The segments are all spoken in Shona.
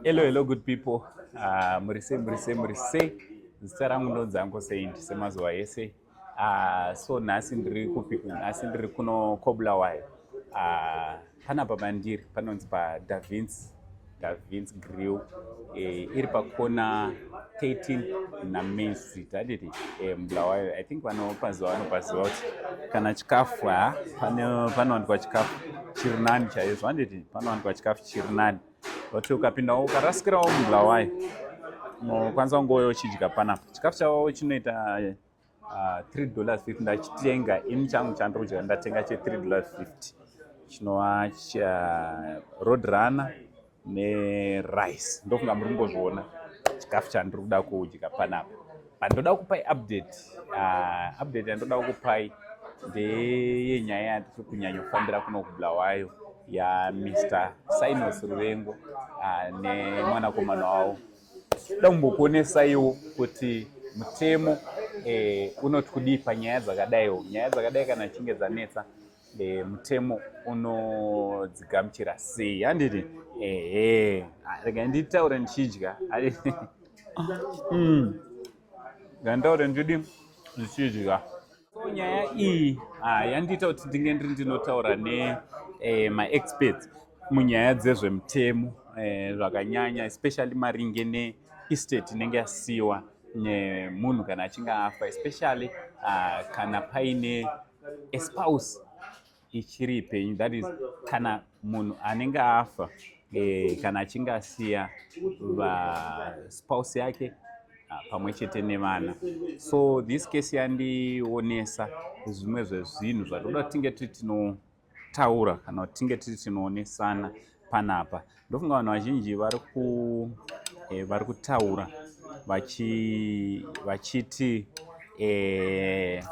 Hello, hello, good people. Uh, muri sei, muri sei, muri sei. Zita rangu ndonzi Uncle Saint semazuva ese. Uh, so nhasi ndiri kupi? Nhasi ndiri kuno Kobulawayo. Uh, ah, panapa pandiri panonzi pa Da Vinci, Da Vinci Grill. Eh, iri pakona 13 na Main Street handiti eh, Bulawayo. I think vanopaziva vanopaziva kuti kana chikafu ha panowanikwa chikafu chiri nani chaizvo handiti panowanikwa chikafu chiri nani. but ukapindawo ukarasikirawo mubulawayo unokwanisa kungoyo uchidya panapa chikafu chavo chinoita uh, three dollars fifty ndachitenga ini changu chandiri kudya ndatenga che three dollars fifty chinova cha road runner nerice ndofunga muri kumbozviona chikafu chandiri kuda kudya panapa Ndoda kupai update. Uh, update yandoda kukupai ndeyenyaya yatiri kunyanyofambira kuno kubulawayo ya Mr Sinos Ruvengo uh, nemwanakomana wavo. Ndoda kumbokuonesaiwo kuti mutemo eh, unoti kudii panyaya dzakadaiwo. Nyaya dzakadai kana chinge dzanetsa e, mutemo unodzigamuchira sei handiti ehe ah, rega nditaure ndichidya mm. nditaure ndichidi ndichidya so nyaya iyi ah, yandiita kuti ndinge ndiri ndinotaura ne eh, maexperts munyaya dzezvemutemo eh, zvakanyanya especially maringe neestate inenge yasiyiwa nemunhu kana achinge afa especially uh, kana paine a spouse ichiri ipenyu that is kana munhu anenge afa eh, kana achinge asiya vaspouse yake ah, pamwe chete nevana so this case yandionesa zvimwe zvezvinhu zvatoda tinge tiri tino taura kana kuti tinge tiri tinoonesana panapa ndofunga vanhu vazhinji vari ku eh, vari kutaura vachi vachiti eh,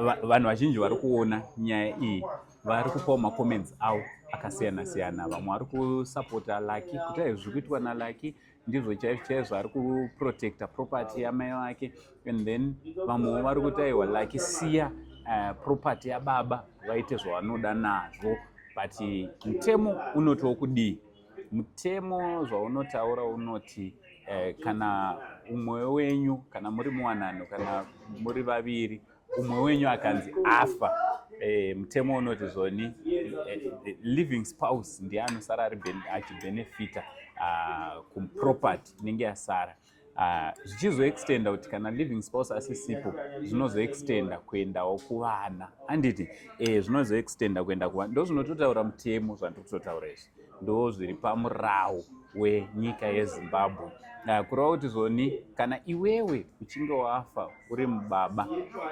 va- vanhu vazhinji vari kuona nyaya iyi vari kupawo macomments avo akasiyana siyana vamwe vari kusapota laki kuti aizvi kuitwa nalaki ndizvo chaizvo chaizvo ari kuprotecta property yamai vake and then vamwewo vari kuti aiwa laki siya uh, property yababa vaite zvavanoda nazvo but mutemo unotiwo kudii mutemo zvaunotaura unoti uh, kana umwe wenyu kana muri muwanano kana muri vaviri umwe wenyu akanzi afa eh, mutemo unoti zvoni eh, eh, living spouse ndiye anosara achibenefita ah, kuproperty inenge yasara ah, zvichizoextenda kuti kana living spouse asisipo zvinozoextenda kuendawo kuvana handiti zvinozoextenda kuenda kuvana ndozvinototaura mutemo zvandiri kutotaura izvi ndo zviri pamurawo wenyika yezimbabwe Ah, kureva kuti zvoni kana iwewe uchinge wafa uri mubaba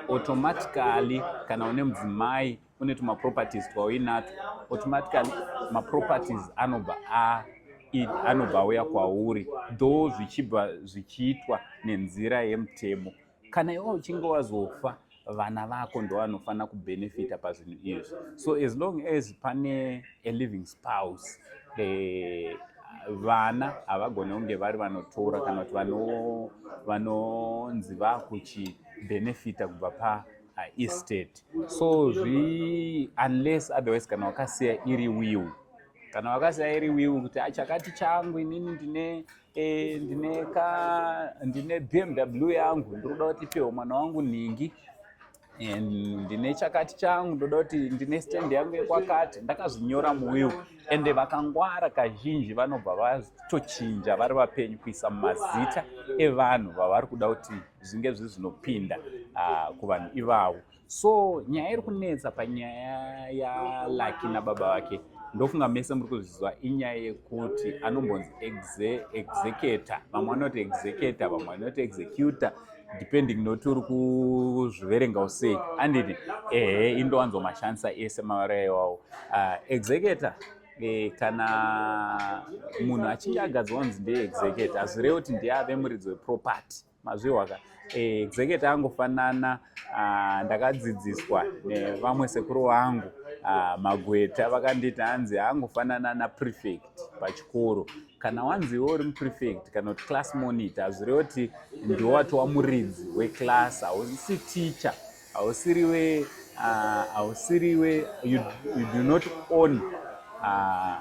automatically kana une mudzimai une tumaproperties twauinatwo automatically maproperties anobva a i- anobva auya kwauri though zvichibva zvichiitwa nenzira yemutemo kana iwe uchinge wazofa vana vako ndovanofanira kubenefita pazvinhu izvi so as long as pane a living spouse eh, vana havagone kunge vari vanotora kana kuti vanonzi vakuchibenefita kubva pa uh, estate so zvi unless otherwise kana wakasiya iri will kana wakasiya iri will kuti achakati ah, changu inini ndine Eh, ndine ka ndine BMW yangu ndinoda kuti ipiwe mwana wangu nhingi and ndine chakati changu ndoda kuti ndine stand yangu yekwakati ndakazvinyora muwill ende vakangwara kazhinji vanobva vatochinja vari vapenyu kuisa mazita evanhu vavari kuda kuti zvinge zvizvinopinda ah, kuvanhu ivavo so nyaya iri kunetsa panyaya yalucky nababa vake ndofunga mese muri kuzviziva inyaya yekuti anombonzi executor vamwe vanoti executor vamwe vanoti executor depending noti uri kuzviverenga usei anditi ehe indowanzo mashandisa ese mavara iwawo ah, executor eh, kana munhu achinge agadzwa kunzi ndeexecutor hazvirevi kuti ndiye ave muridzi weproperty mazvihwa ka eh, executor angofanana ah, ndakadzidziswa nevamwe sekuru vangu ah, magweta vakanditi hanzi angofanana naprefect pachikoro kana wanzi iwe uri muprefect kana kuti class monitor hazvireva kuti ndiwo wati wamuridzi weclass hausi teacher Hausiriwe, ah, hausiriwe, you, you do not own ah,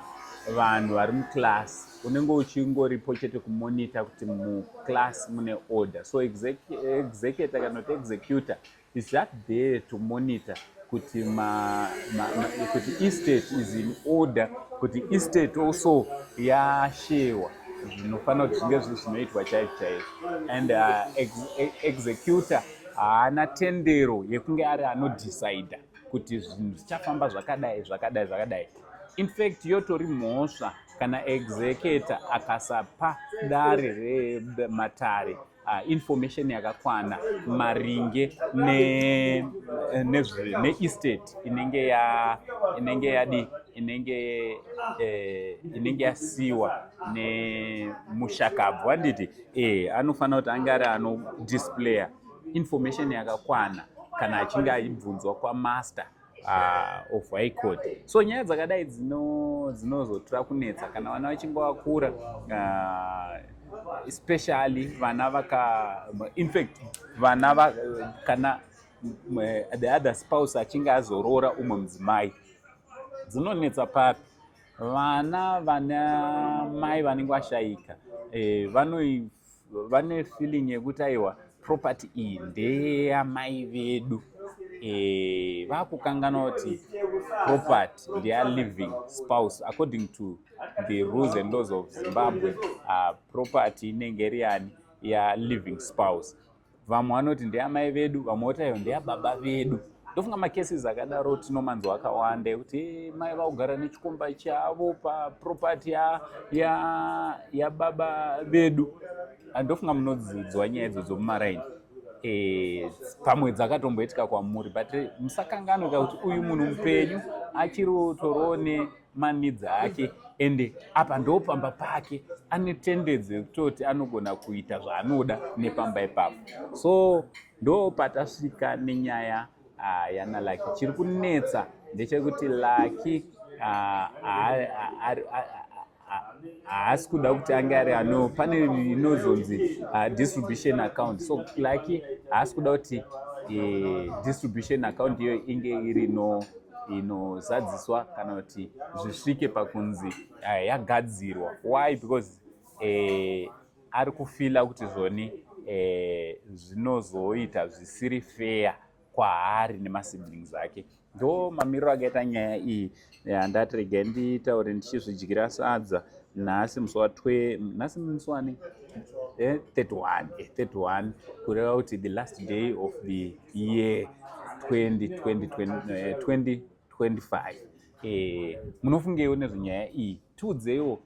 vanhu vari muclass unenge uchingoripo chete kumonita kuti muclass mune order so executor kana kuti executor is that there to monitor kuti ma, ma, ma, kuti estate is in order kuti estate also yashewa zvinofanira kuti zvinge zviri zvinoitwa chaizvo chaizvo and uh, ex, ex, executor haana tendero yekunge ari anodhicida kuti zvinhu zvichafamba zvakadai zvakadai zvakadai infact yotori mhosva kana executor akasapa dare rematare uh, information yakakwana maringe neestate ne, ne inenge ya inenge yadi inenge eh, inenge yasiwa nemushakabvu handiti eh anofanira kuti ange ari anodisplayer information yakakwana kana achinge aibvunzwa kwamaster uh, of high court so nyaya dzakadai dzinozotra kunetsa kana vana vachinge vakura uh, especially vana vaka infact vana va, kana the other spouse achinge azorora umwe mudzimai dzinonetsa papi vana vana mai vanenge vashaika eh, vane feeling yekuti aiwa property iyi ndeyamai vedu eh, vakukanganwa kuti property ndeya living spouse according to the rules and laws of zimbabwe uh, property inenge iri yani ya living spouse vamwe vanoti ndeamai vedu vamwe voti ayo ndeababa vedu ndofunga macases akadaro tinomanzwa akawanda ekuti eh, mai vakugara nechikomba chavo paproperty yababa ya, ya vedu ah, ndofunga munodzidzwa nyaya idzodzo mumaraini eh, pamwe dzakatomboitika kwamuri but musakanganwe ka kuti uyu munhu mupenyu achiri torone maneeds ake ende apa ndopamba pake ane tendency yekutoti anogona kuita zvaanoda nepamba ipapo so ndopatasvika nenyaya uh, yana laki chiri kunetsa ndechekuti laki ah, haasi kuda kuti ange ari ano pane inozonzi ah, distribution account so laki haasi kuda kuti eh, distribution account iyo inge iri no inozadziswa kana kuti zvisvike pakunzi eh, yagadzirwa why because eh, ari kufila kuti zvoni eh, zvinozoita zvisiri feya kwaari nemasiblings ake ndo mamiriro akaita nyaya iyi handati eh, regai nditaure ndichizvidyira sadza nhasi musi watwe nhasi musi wani 31 eh, kureva kuti the last day of the year 2025 eh, eh, munofungeiwo nezvenyaya iyi tiudzeiwo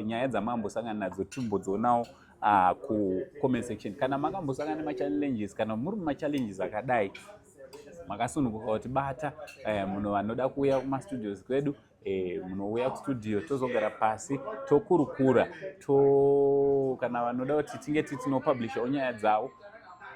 nyaya dzamambosangana nadzo timbodzionawo ah, kucomment section kana makambosangana nemachallenges kana muri mumachallenges akadai makasununguka kuti bata eh, munhu vanoda kuuya kumastudios kwedu e, munouya kustudio tozogara pasi tokurukura to kana vanoda kuti tinge titinopublishawo nyaya dzavo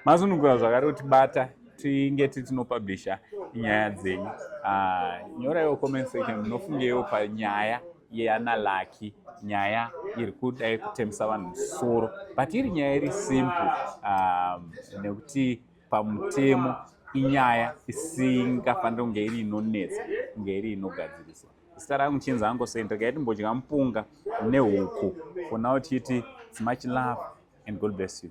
mazunungura zvakare kuti bata tinge titinopublisha nyaya dzenyu ah, nyoraiwo comment section munofungeiwo panyaya yeana laki nyaya iri kudai kutemesa vanhu musoro but iri nyaya iri simple um, nekuti pamutemo inyaya isingafaniri kunge iri inonetsa kunge iri inogadziriswa zita rangu chinzi hangu sei ndakaiti mbodya mupunga nehuku for now tichiti it's much love and god bless you